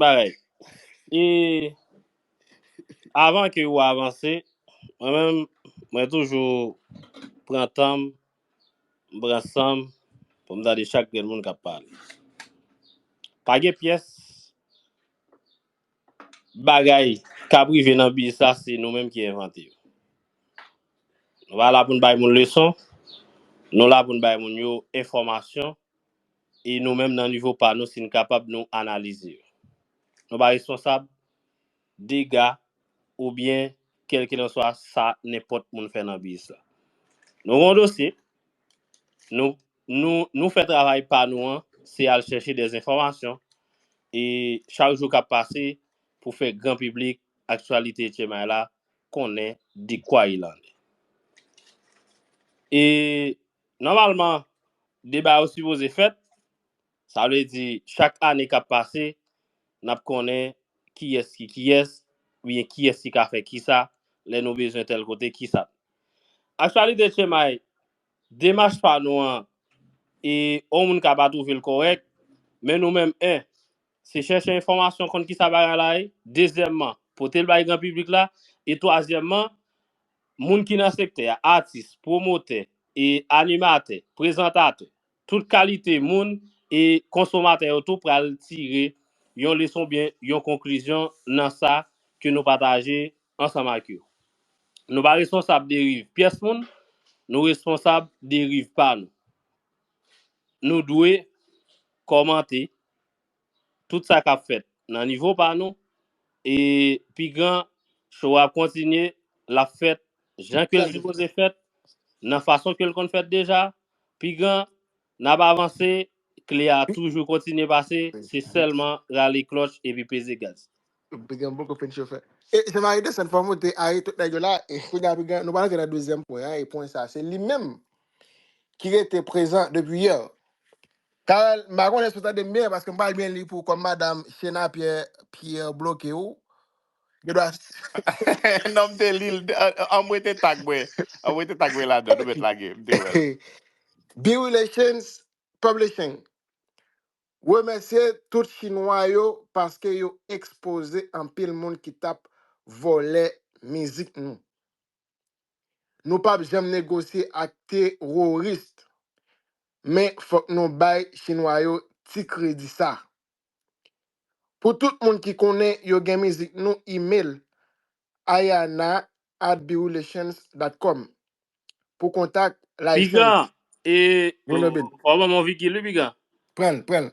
bagay. E avan ke ou avanse, mwen menm, mwen toujou pran tanm, m pran sanm pou m tande chak grenn moun kap pale. Pa gen pyès bagay kap rive nan biznis la se nou menm ki envante yo. Nou pa la pou n bay moun leson, nou la pou n bay moun yo enfòmasyon. E nou menm nan nivo pa nou si n kapab nou analize yo. Nou pa responsab dega oubyen kèlkilanswa sa nenpòt moun fè nan biz la. Nou gen yon dosye, nou nou nou fè travay pa nou an se al chèche dè enfòmasyon e chak jou k ap pase pou fè gran piblik aktyalite Etcemay la konnen dekwa il en est. E Nòmalman, deba yo sipoze fèt, sa vle di chak ane k ap pase, n ap konnen kiyès ki kiyès oubyen kiyès ki ka fè kisa lè nou bezwen tèl kote kisa. Actualité Tchemay, demach pa nou an e yon moun ka pa twouve l kòrèk, men nou menm 1. Se chèche enfòmasyon konn kisa bagay la ye, dezyèmman pote l bay gran piblik la e twazyèmman Moun ki nan sektè a, atis, pwomotè, e animatè, prezantatè, tout kalite moun e konsomatè yo tou pral tire yon leson oubyen yon konklizyon nan sa ke nou pataje ansanm ak yo. Nou pa responsab deriv pyès moun, nou responsab deriv pa nou. Nou dwe kòmante, tout sa kap fèt nan nivo pa nou e pi gran show a ap kontinye lap fèt jan kel sipoze fèt nan fason kel konn fèt deja pi gran nap avanse kle a toujou kontinye pase se sèlman rale klòch epi peze gaz. Pi gran poko fin chofè. E se mari desann fò moute a e tout nèg yo la e kounya pi gran nou pral antre nan dezyèm pwen an e pwen sa se li menm ki rete prezan depi yè. Carel, m pa konnen si w tande m byen, paske m pa byen li pou kòm madam Shena Pierre Pierre bloke ou, gen dwa non m te lil, anmwe te tag mwen, anmwe te tag mwen ladan, nou mèt lage, m te wèl. Be Relations Publishing remèsye tout chinwa yo paske yo ekspoze anpil moun ki tap vòlè mizik nou. Nou pap janm negosye ak terorist men fok nou bay chinwa yo ti kredi sa. Pou tout moun ki konnen yo gen mizik nou email ayana at birulations dot com pou kontak, Piga, license, e, vin o, oben. ou ap ban m on vigil wi piga. Pran l, pran l.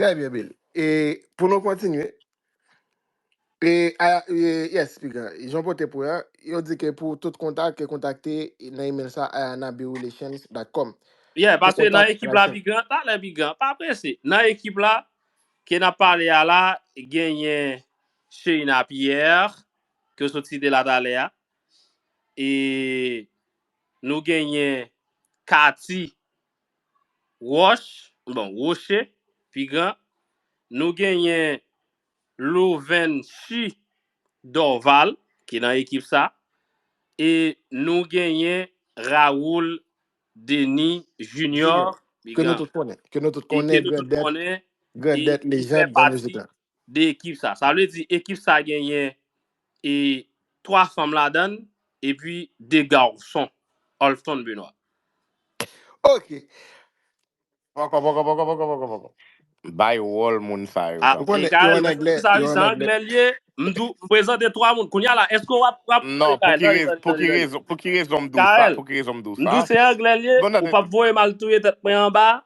Trè byen Bill. E pou nou kontinye, e, a, e, yes, piga, jan pote pou ya, yo di ke pou tout kontak, ke kontakte nan email sa ayanabirelations.com. Yeah, Pou paske nan kontak, ekip la relations. piga, talè piga, pa prese. Nan ekip la, ke nan pale a la, genyen Sheina Pierre, ke w sot site la talè a, e nou genyen Cathy Wòch, bon Rocher, pi gran, nou genyen Louvenschi Dorval ki nan ekip sa e nou genyen Raoul Denis Junior, pi gran, ke nou tout konnen grandèt li fè pati de ekip sa. Sa vle di ekip sa genyen e 3 fanm ladan l epi 2 garson. Olfton Benoit. Ok. Poko poko poko poko poko poko. Bay wòl moun sa yo Ah, tanpri. Mikael, mwen sezi sa wi, se anglè l ye. M di w, m prezante 3 moun. Kounya la, èske w ap voye m al touye tèt mwen? Pou ki rezon? Pou ki rezon? Mikael, m di w se anglè l ye, ou p ap voye m al touye tèt mwen anba?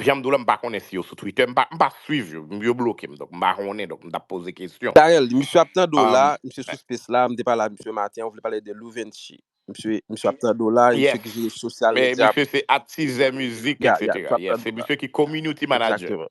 Janm diw la m pa konnen si yo sou Twitter, m pa m pa swiv yo, yo bloke m donk m pa konnen donk m tap poze kesyon. Carel di misye ap tande w la, Um, misye sou space la, m te pale ak misye maten an, ou vle pale de Louventchi. Misye, misye ap tande w la, e misye yes. ki jere social Men media misye pou se atis zè mizik, Ya, etc. ya, misye ap Yes, tande se w la. misye ki community manager. Exactement.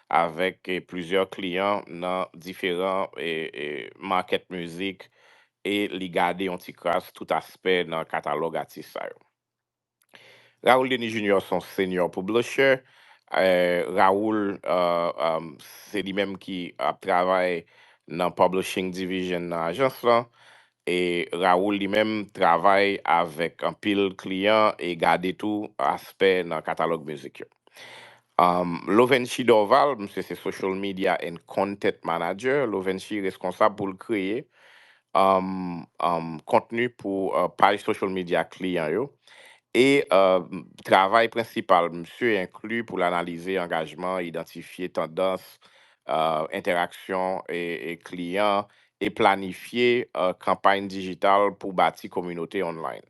avèk plizyè kliyan nan diferan market mizik e li gade yon ti kras tout aspè nan katalòg atis sa yo. Raoul Denis Junior se yon senior publisher, Raoul se li menm ki ap travay nan publishing division nan ajans lan, E Raoul li menm travay avèk anpil kliyan e gade tou aspè nan katalòg mizik yo. Lovenchy Dorval, misye se Social Media and Content Manager, Lovenchy reskonsab pou l kreye kontni pou paj social media kliyan yo e travay prensipal misye enkli pou l analize angajman, idantifye tandans, entèraksyon kliyan e planifye kanpay dijital pou bati kominote online.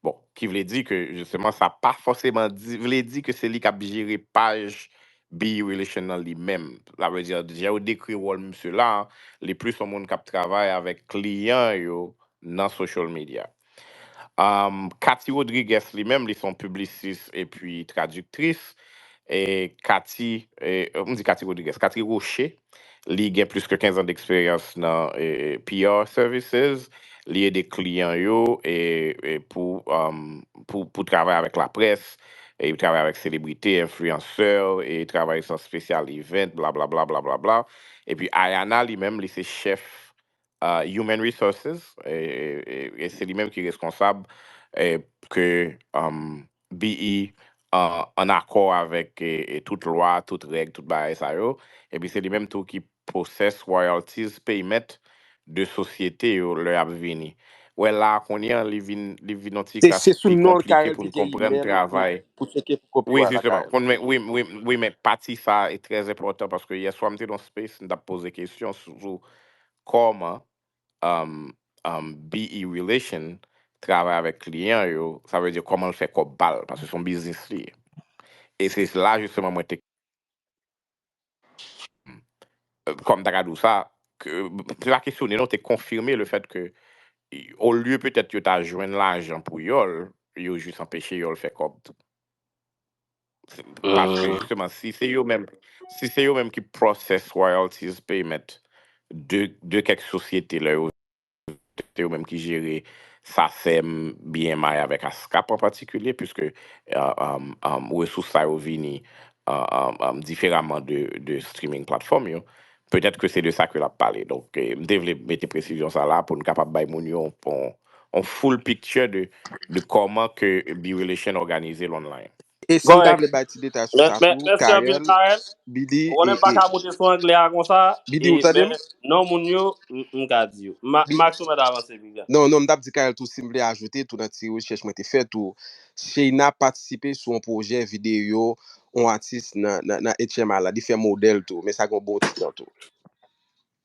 Bon, ki vle di ke jisteman sa pa fòseman di vle di ke se li k ap jere paj Be You Relation nan li menm. Sa vle di, jan yo dekri wòl misye la, li plis yon moun k ap travay avèk kliyan yo nan social media. Am, Cathy Rodrigues li menm li se yon piblisis epi tradiktris. E Cathy, e, m di Cathy Rodrigues, Cathy Rocher, li gen plis ke 15 an d'eksperyans nan e, e, PR services. Li ede kliyan yo e, e pou, am, pou, pou travay avèk laprès, e li travay avèk selebrite, enfliyansè, e travay san spesyal event, blablabla, blablabla. Epi Ayana li menm li se chèf Human Resources, e se li menm ki reskonsab ke BE an akò avèk tout lwa, tout règ, tout bagay sa yo, epi se li menm tou ki process royalties payment de sosyete yo lè y ap vini. Wè la a kounye an li vin yon ti kras pi konplike pou n konprann travay. Wi, jisteman. Wi men pati sa a e trè enpòtan paske yèswa m te nan yon space m t ap poze kesyon sou Kòman um be relation travay avèk kliyan yo, sa vle di kòman l fè kòb pa l, paske se yon biznis li ye. E se la jisteman mwen te um kòman m ta ka di w sa, ke se pa kesyone non, te konfime le fèt ke olye petèt yo ta jwenn lajan pou yòl, yo jis anpeche yòl fè kòb tou. Se- Paske Mhm. justement, si se yo menm, si se yo menm ki process royalties payment de, de kèk sosyete lè yo, se yo menm ki jere SACEM, BMI avèk ASCAP an patikilye, puisque uh, um, um, resous sa yo vini uh, um, um, diferaman de, de streaming platform yo, petèt ke se de sa ke l ap pale. Donk, eh, m te vle mete presizyon sa la pou n kapab bay moun yo on full picture de de koman ke B-relation organize l online. E si m ta Correct. vle bay ti detay sou sa tou, Mèsi anpil Carel, Carel. Biddy Ou konnen e m e paka moute sou anglè a konsa e Biddy ou tande men m? non moun yo m m ka di yo. Ma Bi- Max ou mèt avanse piga. Non, non, m tap di Carel tou si m vle ajoute tou nan ti rechèch mwen te fè tou, Sheina patisipe sou on pwojè videyo on atis nan nan nan HMI la, li fè modèl tou, men sa gen on bon ti tan tou.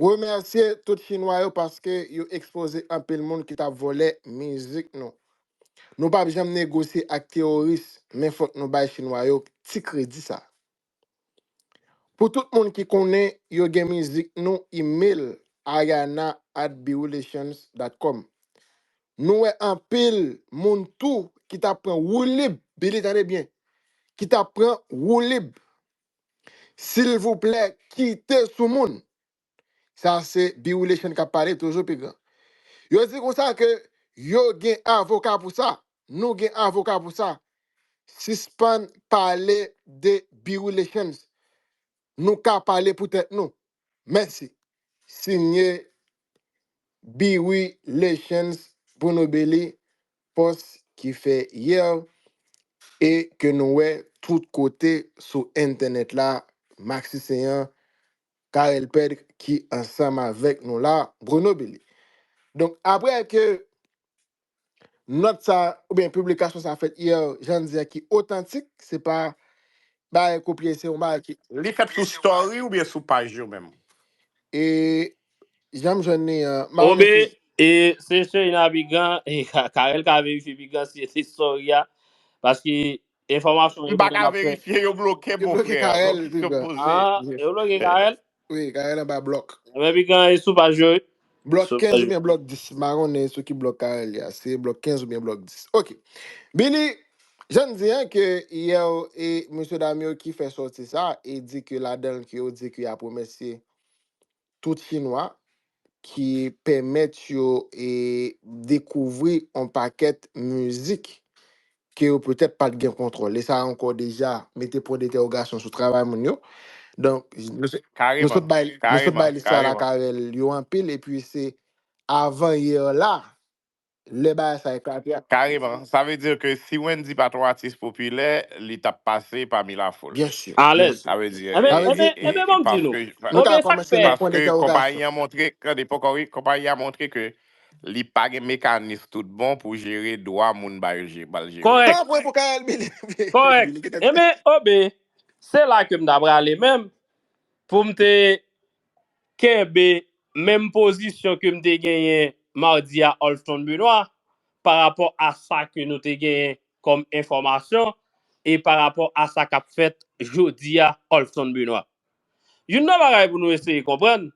Remèsye tout chinwa yo paske yo ekspoze anpil moun ki tap vòlè mizik nou. Nou pap janm negosye ak teworis men fòk nou bay chinwa yo ti kredi sa. Pou tout moun ki konnen yo gen mizik nou email ariana at bwrelations dot com. Nou wè anpil moun tou ki tap pran woulib, Billy tande byen, ki tap pran woulib. Silvouplè kite sou moun. Sa se Biwileshan kap pale toujou pi gran. Yo di konsa ke yo gen avoka pou sa. Nou gen avoka pou sa. Sispann pale de Biwileshan. Nou ka pale pou tèt nou. Mèsi. Signe Biwileshan Bruno Belly. post ki fè hier e ke nou wè tout kote sou entenet la Maxi Céant, Carel Pedre ki ansanm avek nou la Grenobili. Donk apre ke nòt sa ou byen piblikasyon sa fèt hier jan di a ki otantik se pa bagay kopye se yon bagay ki Li fèt sou story ou byen sou paj yo menm? E Jan m jwenn li an, ma Obe, remete. e, se seri nan Bigan, e, Ka- Karel ka verifye Bigan si se sori a, paske enfòmasyon M yo pa toujou ka nan fè. verifye, yo bloke m Yo bloke monfrè, bon Karel, kesyon m Bigan. poze. Ah, Ye. e ou lòge Eh, Karel? Oui, Karel an ba blòk. Men Bigan e sou paj yo, e, Blòk sou 15 paj ou yo. byen blòk 10. Ma konnen sou ki blòk Karel ya. Se blòk 15 ou byen blòk 10. Ok. Bini, jan n di an ke yè ou e msye dam yo ki fè sòti sa e di ke ladan l ke yo di ke y ap remèsye tout chinwa ki pèmèt yo e dekouvri on pakèt mizik ke yo petèt pat gen kontwòl e sa ankò deja mete pwen detèwogasyon sou travay moun yo donk nou sot nou Kareman, sot bay nou sot kareman, bay listwa kareman. lakarèl yo anpil epi se avan yè la Lè bagay sa eklate a. Kareman, sa vle di ke si Wendyy pa t yon atis popilè, li t ap pase pami lafoul. Byen si, byen Alèz. si. Sa vle di, Enben, Sa vle di, enben, e, enben e, bon m di nou. paske, Nou ka Konbyen sa k kòmanse fè nan pwen paske konpayi entèwogasyon. an montre, tande poko ri, konpayi an montre ke li pa gen mekanis tout bon pou jere dwa moun ba yo je, ba l jere yo. Kòrèk, San pwen pou Carel Billy. kòrèk. Billy gen tèt. Enben, Obe, se la ke m ta prale menm pou m te kenbe menm pozisyon ke m te genyen madi a Olsthon Benoît pa rapò a sa ke nou te genyen kòm enfòmasyon e pa rapò a sa k ap fèt jodi a Olsthon Benoît. Youn nan bagay pou nou eseye konprann,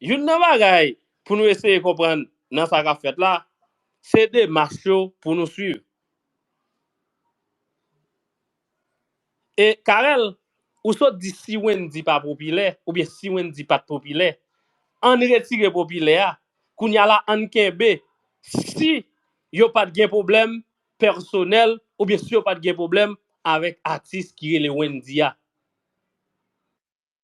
youn nan bagay pou nou eseye konprann nan sa k ap fèt la, se demach yo pou nou swiv. E Carel ou sot di si Wendy pa popilè oubyen si Wendy pat popilè ann retire popilè a kounya la ann kenbe si yo pat gen pwoblèm pèsonèl oubyen si yo pat gen pwoblèm avèk atis ki rele Wendy a.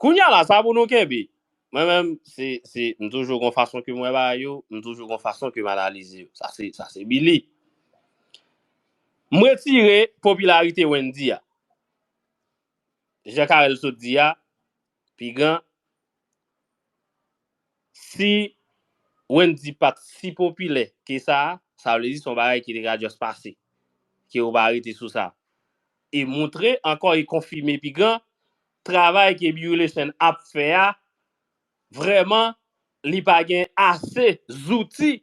Kounya la sa pou nou kenbe. Mwen menm se se m toujou gon fason ke m wè bagay yo, m toujou gon fason ke m analize yo. Sa se sa se Billy. M retire popilarite Wendy a. Jan Carel sot di a, Pigan, si Wendy pat si popilè ke sa, sa vle di se yon bagay ki te ka just pase, ke yo pa rete sou sa. E moutre ankò e konfime Pigan Travay ke Bioulesn ap fè a vrèman li pa gen ase zouti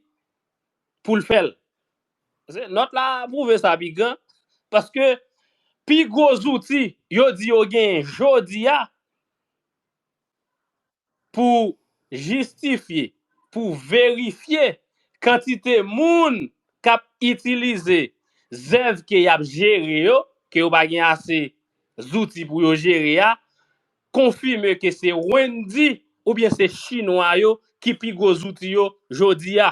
pou l fè l. Pase nòt la pwouve sa pi gran paske pi gwo zouti yo di yo genyen jodi a, pou jistifye, pou verifye kantite moun k ap itilize zèv ke y ap jere yo, ke yo pa gen ase zouti pou yo jere a, konfime ke se Wendyy oubyen se Chinwa yo ki pi gwo zouti yo jodi a.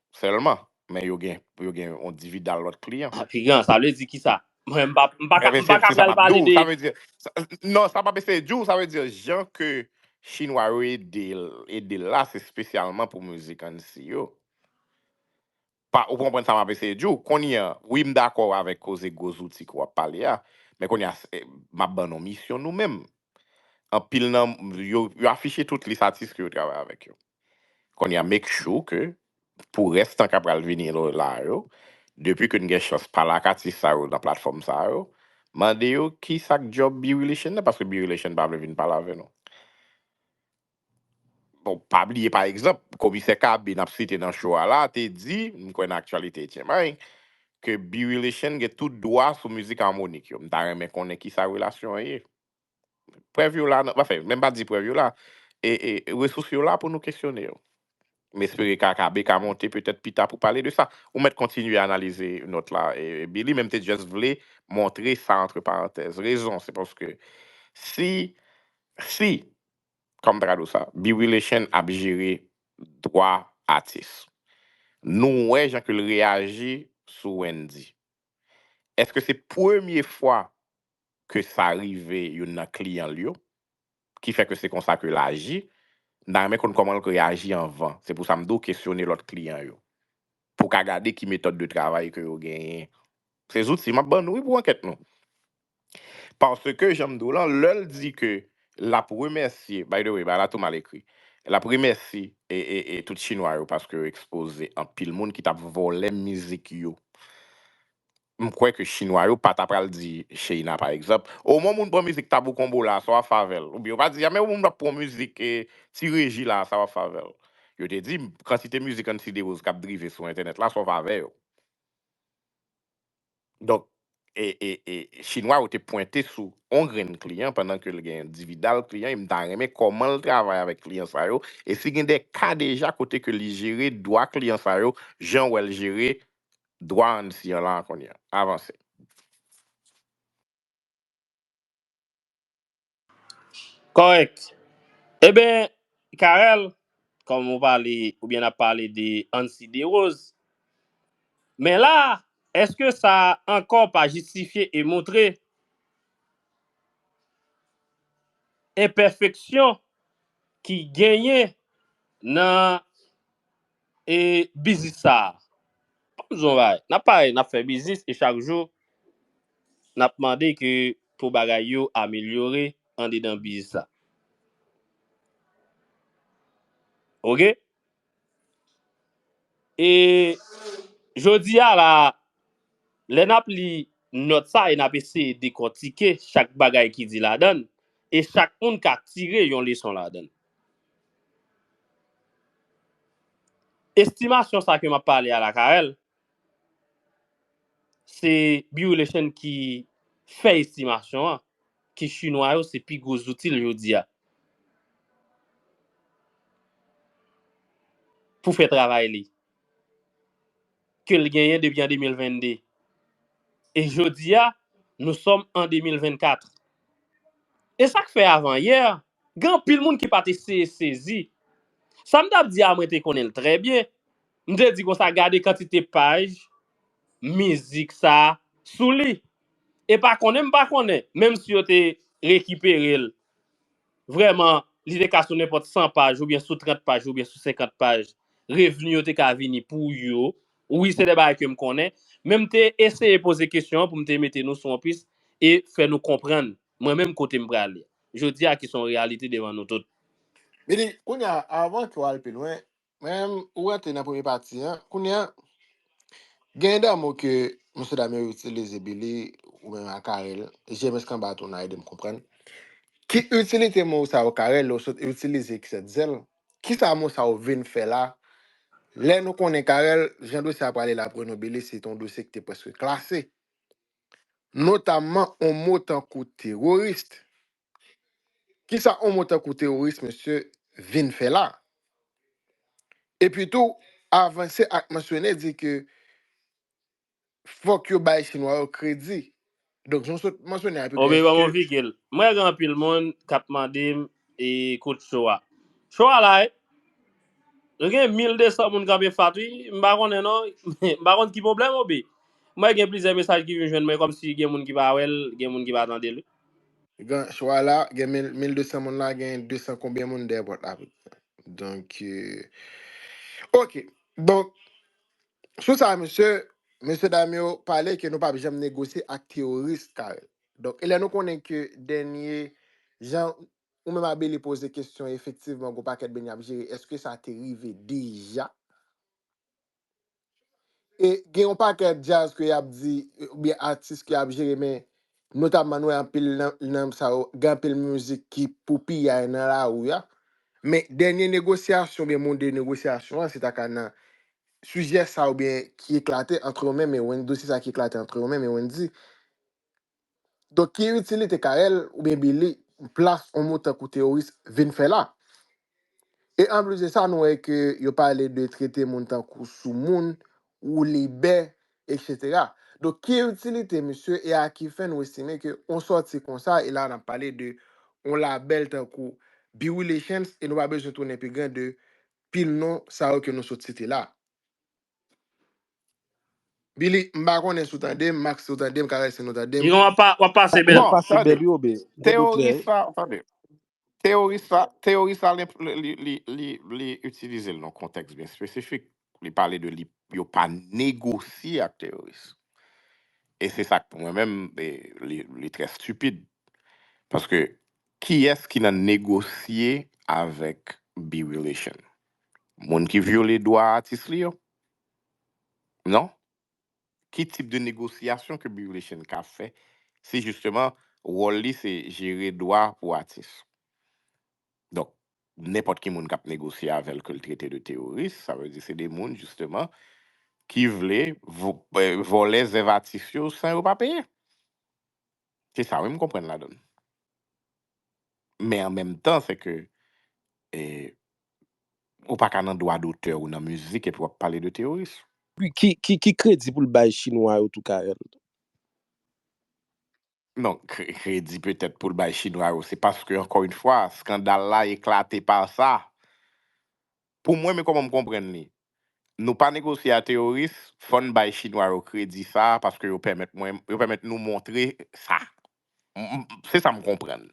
Sèlman. Men yo gen yo gen yon dividal lòt kliyan. Ah kliyan, sa vle di kisa? Mwen m pa m pa ka m pa ka pral pale de. Sa vle di, non sa m ap eseye di w, sa vle di jan ke chinwa yo ede l ede l la se spesyalman pou mizik Annecy yo. Pa ou konprann sa m ap eseye di w? Kounye an, wi m dakò avèk koze gwo zouti ke w ap pale a, men kounye a m ap ban nou misyon nou menm. Anpil nan yo yo afiche tout lis atis ke yo travay avèk yo. Konnya make sure ke pou rès tan kap pral vini la yo, depi ke n gen chans pale ak atis sa yo nan platfòm sa yo, mande yo kisak djòb B-Relation nan, paske B-Relation pa vle vin pale avè nou. Bon, pa bliye pa egzanp, Komisè KB nap site nan show a la te di, m kwè nan Actualité Etyenmay, ke B-Relation gen tout dwa sou mizik Harmonik yo. M ta renmen konnen kisa relasyon an ye. Prèv yo la nan, anfen, menm pa di prèv yo la, e, e, resous yo la pou nou kesyone yo. M espere KKB ka monte petèt pita pou pale de sa. Ou mèt kontinye analize nòt la, e, Billy, men m te just vle montre sa antre parantèz. Rezon, se paske si, si, kòm tradou sa, Bwileshenn ap jere dwa atis, nou wè jan ke l reyaji sou Wendyy, èske se premye fwa ke sa rive youn nan kliyan l yo, ki fè ke se konsa ke l aji, m ta renmen konn kòman l reyaji anvan. Se pou sa m di w kesyone lòt kliyan yo, pou w ka gade ki metòd de travay ke yo genyen. Se zouti m ap ban nou wi pou ankèt nou. Paske jan m di w lan, lè l di ke l ap remèsye, by the way, bagay la tou mal ekri, l ap remèsi e, e, e tout chinwa yo paske yo ekspoze anpil moun ki t ap vòlè mizik yo. M kwè ke chinwa yo pa ta pral di Sheina pa egzanp, o mon moun pran mizik Tabou Combo la a sa w ap fè avè l? Oubyen yo pa di a men o moun ap pran mizik Ti Reji la a sa w ap fè avè l? Yo te di kantite mizik Anti Derose k ap drive sou entènèt la sa w fè avè yo? Donk, e, e, e chinwa yo te pwente sou on grenn kliyan pandan ke l gen yon dividal kliyan e m ta renmen kòman l travay avèk kliyan sa yo e si gen de ka deja kote ke li jere dwa kliyan sa yo jan w wè l jere dwa an si an la kounye an avanse. Kòrèk. Eben, Carel, kòm ou pale oubyen n ap pale de Ancy Derose, men la a, èske sa a ankò pa jistifye e montre enpèfeksyon ki genyen nan e biznis sa a. Ann di w yon bagay, n ap pale, n ap fè biznis e chak jou n ap mande ke pou bagay yo amelyore andedan biznis la. Ok? E jodi a la a, lè n ap li nòt sa a e n ap eseye dekòtike chak bagay ki di ladan l e chak moun ka tire yon leson ladan l. Estimasyon sa ke map pale a la Carel se Bioulation ki fè estimasyon an ke chinwa yo se pi gwo zouti l jodi a pou fè travay li ke l genyen depi an 2022 e jodi a nou sòm an 2024 e sak fè avan yè Gen anpil moun ki pa t eseye sezi. Sa m t ap di a mwen te konnen l trè byen. M te di konsa, Gade kantite paj mizik sa a sou li. E pa konnen m pa konnen, menmsi yo te rekipere l, vrèman, li te ka sou nenpòt san paj oubyen sou trant paj oubyen sou senkant paj, revni yo te ka vini pou yo. Wi, se de bagay ke m konnen, men m te eseye poze kesyon an pou m te mete nou sou yon pis e fè nou konprann. Mwen menm kote m prale. Jodi a ki son reyalite devan nou tout. Li di, Kounye a, avan ke w al pi lwen, mwen menm, ou rantre nan premye pati an. Kounye a, genyen de mo ke mesye dam yo itilize, Billy, ou menm ak Carel, JMS Kanba tou nan ede m konprann. Ki itilite mo sa yo, Carel, lè w sot itilize ki sèt zèl? Kisa mo sa yo vin fè la? Lè nou konnen, Carel, jan dosye a prale la pou nou, Billy, se te yon dosye ki te prèske klase. notamman on mo tankou teworis. Ki sa on mo tankou teworis, mesye, vin fè la? Epitou, avanse ak mansyone di ke fòk yo bay Chinwa yo kredi. Donk, jan w sot mansyone a, Pigalle, eske. Bon, Pigalle, mwen wè gen anpil moun k ap mande m e kout cho a. Cho a la wi. Nou gen 1200 moun kanpe fat wi, m pa konnen non, m pa konn ki pwoblèm ou bi. M wè gen plizyè mesaj ki vin jwenn mwen kòmsi gen moun ki pa wè l, gen moun ki pa tande l wi. Gan chwa la, gen 1200 moun la, gen 200 konbyen moun dèyè pòt la apeprè. Donk, ok. Donk, sou sa mesye, mesye dam yo pale ke nou pap janm negosye ak teworis Carel. Donk, e lè nou konnen ke dènye jan Ou menm Abele poze kesyon efektivman gon pakèt beny ap jere eske sa te rive deja? E gen yon pakèt djaz ke yap di oubyen atis ke yap jere men notamman nou wè anpil nan sa yo gen anpil mizik ki pou piyay nan lari a men dènye negosyasyon oubyen moun de negosyasyon an se ta ka nan sijè sa oubyen ki eklate antre yo menm e Wendy se sa ki eklate antre yo menm e Wendy Donk ki itilite Carel oubyen Billy plas yon mo tankou teworis vin fè la? E anplis de sa nou wè ke yo pale de trete moun tankou soumoun, woulibè, eksetera. Donk ki itilite misye e a ki fen nou estime ke yon sòti konsa e la nap pale de yon labèl tankou B-Relations e nou pa bezwen tounen pi gran de pil non sa yo ke nou sot site la. Billy, m pa konnen si w tande m, Max si w tande m, Carel si nou tande m. Yon wap pa wap pase bèl. Wap Bon, pase tande, bèl yo be. Bèl yo klè. teyoris la, tande, teyoris la, teyoris la li, li, li, li, li itilize l nan kontèks byen espesifik. Li pale de li, yo pa negosye ak teyoris. E se sa k pou mwen menm, e, li, li trè stupid. Paske, kiyès ki nan negosye avèk Be Relation? Moun ki vyole dwa atis li yo? Non. Ki tip de negosyasyon ke Bivlechen ka fè si jisteman wòl li se jere dwa pou atis? Donk, nenpòt ki moun k ap negosye avè l ke l trete de teworis, sa vle di se de moun jisteman ki vle vòlè zèv atis yo san yo pa peye. Se sa wi m konprann ladan l. Men an menm tan se ke ou pa ka nan dwa dotè ou nan mizik epi w ap pale de teyorism. Ki kredi pou l bay chinwa yo tou Carel? Non, kredi petèt pou l bay chinwa yo se paske ankò yn fwa skandal la eklate pa sa. Pou mwen men koman m konprann li. Nou pa negosye a teoris, fò n bay chinwa yo kredi sa a paske yo pèmèt mwen, yo pèmèt nou montre sa. Se sa m konprann.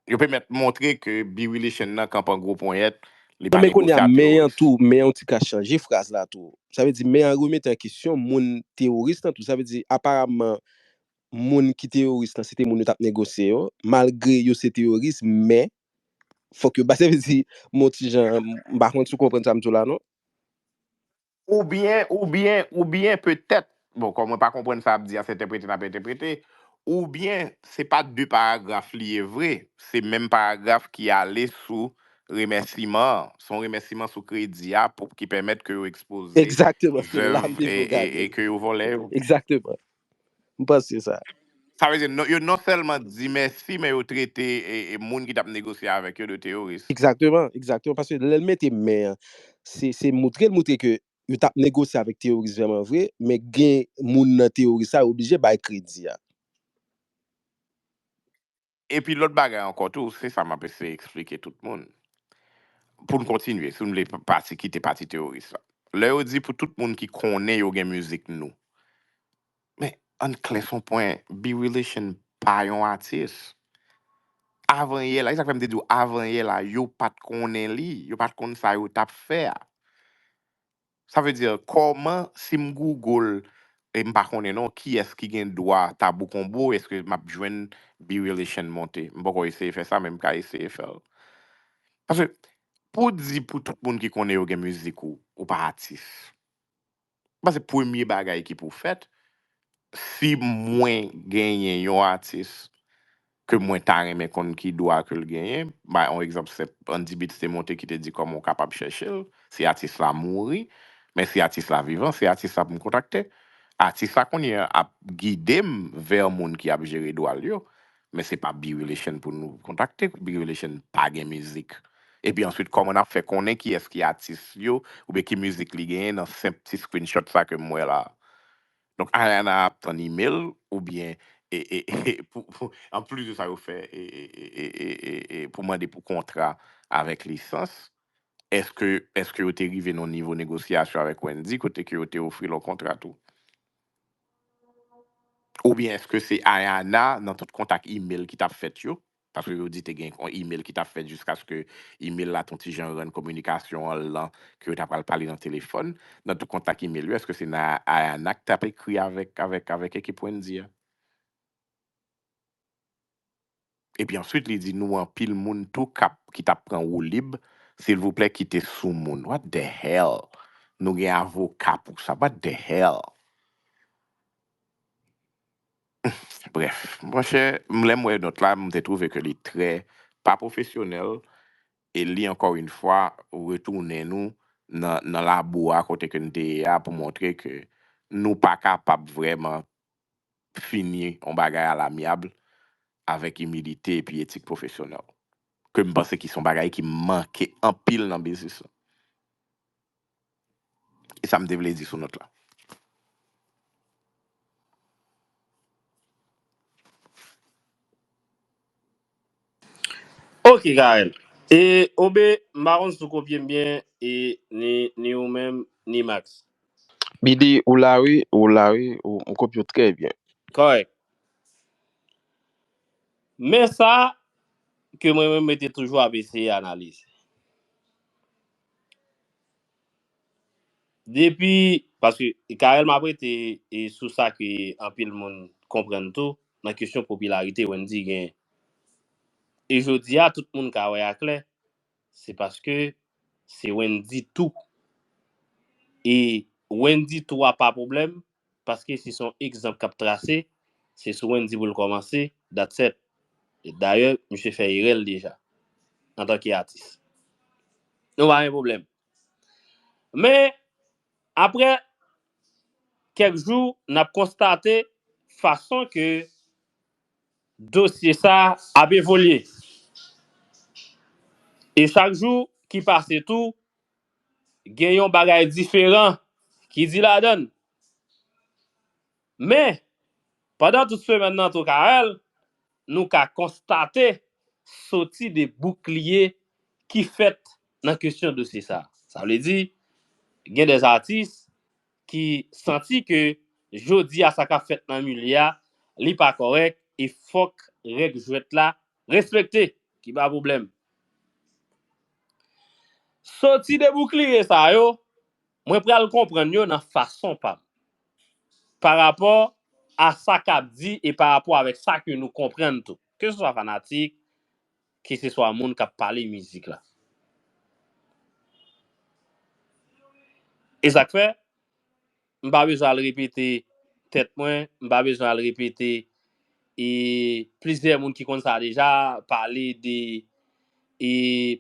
Yo pèmèt montre ke Birilichin nan kanpan gwo ponyèt, li pa negosye a teoris. Men yon ti ka chanje fraz la tou. Sa vle di men an remete an kesyon moun teoris lan tou. Sa vle di aparamman moun ki teoris lan se te moun yo t ap negosye yo, malgre yo se teoris men Fòk yo bay sa vle di mon ti Jan m pa konn si w konprann sa m di w la non. Oubyen oubyen oubyen petèt bon kòm mwen pa konprann sa ap di a se entèprete n ap entèprete oubyen se pa de paragraf li ye vre se menm paragraf ki ale sou remèsiman an se yon remèsiman sou kredi a pou ki pèmèt ke yo ekspoze Egzakteman se la m zèv te e vle e gade e ke yo vòlè yo. Egzakteman. M panse sa. Sa vle di, yo non sèlman di mèsi, men yo trete moun ki t ap negosye avèk yo de teyoris. Egzakteman, egzakteman, paske lè l mete men an, se se moutre l moutre ke yo t ap negosye avèk teyoris vrèman vre, men gen moun nan teyoris sa yo oblije bay kredi a. Epi lòt bagay ankò tou, se sa m ap eseye eksplike tout moun, pou n kontinye, si nou vle pati kite pati teyoris la. Lè yo di pou tout moun ki konnen yo gen mizik nou, men ann klè s on pwen, B-Relition pa yon atis. Avanyè la, e sa k fè m te di w avanyè la, yo pa t konnen li, yo pa t konn sa yo t ap fè a. Sa vle di kòman si m google e m pa konnen non kiyès ki gen dwa Tabou Combo eske map jwenn B-relation monte? M poko eseye fè sa men m ka eseye fè l. Paske pou w di pou tout moun ki konnen yo gen mizik ou, ou pa atis. M panse premye bagay ki pou fèt si mwen genyen yon atis ke mwen ta renmen konn ki dwa ke l genyen, m bay on egzanp senp, Andy Beats te monte ki te di kòman w kapab chèche l, si atis la mouri, men si atis la vivan, se atis la pou m kontakte. Atis la kounye a ap gide m vè moun ki ap jere dwa l yo, men se pa B-Relation pou nou kontakte, B-Relation pa gen mizik. Epi answit kòman n ap fè konnen kiyès ki atis yo, oubyen ki mizik li genyen nan senp ti screenshot sa ke m wè la a? Donk Ayana ap tann email ou byen an plis de sa yo fè pou mande pou kontra avèk lisans eske yo te rive nan nivo negosyasyon avèk Wendy kote ke yo te ofri l yon kontra tou? Ou byen eske se Ayana nan tout kontak email ki t ap fèt yo Paske yo di te gen yon imel ki t ap fèt jiskaske imel la t yon ti jan rann kominikasyon an lan, ke yo ta pral pale nan telefòn. Nan tout kontak imel yo, èske se Nayana ki t ap ekri avèk ekip Wendy a? Epi answit li di nou anpil moun tou k ap, ki t ap pran woulib, silvouplè kite soumoun. What the hell? Nou gen avoka pou sa. What the hell? Bref, mon chè, m lè m wè nòt la, m te twouve ke li trè pa pwofesyonèl e li ankò yn fwa retounen nou nan nan labou a kote ke n te ye a pou montre ke nou pa kapab vrèman fini yon bagay a l'amiable avèk imilite epi etik pwofesyonèl, ke m panse ki s on bagay ki manke anpil nan biznis lan. E sa m te vle di sou nòt la. Ok Carel. E Obe, m pa konn si w kopye m byen e ni ni ou menm ni Max. BD, Ou la wi, ou la wi, m kopye w trè byen. Kòrèk. Men sa ke mwen menm mwen te toujou ap eseye analize. Depi, paske Carel map rete sou sa ke anpil moun konprann tou nan kesyon popilarite Wendyy genyen. E jodi a tout moun ka wè a klè, se paske se Wendyy tou. E Wendyy tou a pa pwoblèm, Paske si son egzanp kap trase, se sou Wendy pou l kòmanse, that's et. E dayè misye fè erè l deja, antanke atis. Nou pa gen pwoblèm. Men, aprè kèk jou, n ap konstate fason ke dosye sa ap evolye. E chak jou ki pase tou, gen yon bagay diferan ki di ladan l. Men, pandan tout semèn nan tou Carel, nou ka konstate soti de boukliye ki fèt nan kesyon dosye sa. Sa vle di, gen de atis ki santi ke jodi a sa k ap fèt nan milye a, li pa kòrèk e fòk règ jwèt la Respekte ki pa pwoblèm. Soti de boukliye sa yo, mwen pral konprann yo nan fason pa m. Pa rapò a sa k ap di e pa rapò avèk sa ke nou konprann tou. Ke se swa fanatik, ke se swa moun k ap pale mizik la. E sa k fè? M pa bezwen al repete tèt mwen, m pa bezwen al repete e plizyè moun ki konn sa deja pale de e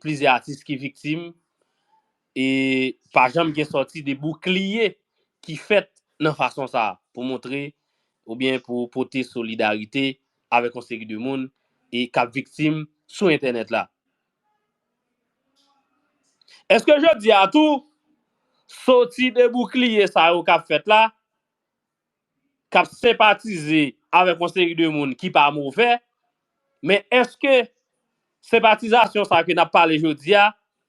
plizyè atis ki viktim e pa janm gen sòti de boukliye ki fèt nan fason sa pou montre oubyen pou pote solidarite avèk yon seri de moun e k ap viktim sou entènèt la. Eske jodi a tou, soti de boukliye sa yo k ap fèt la, k ap senpatize avèk yon seri de moun ki pa move, men eske senpatizasyon sa ke n ap pale jodi a,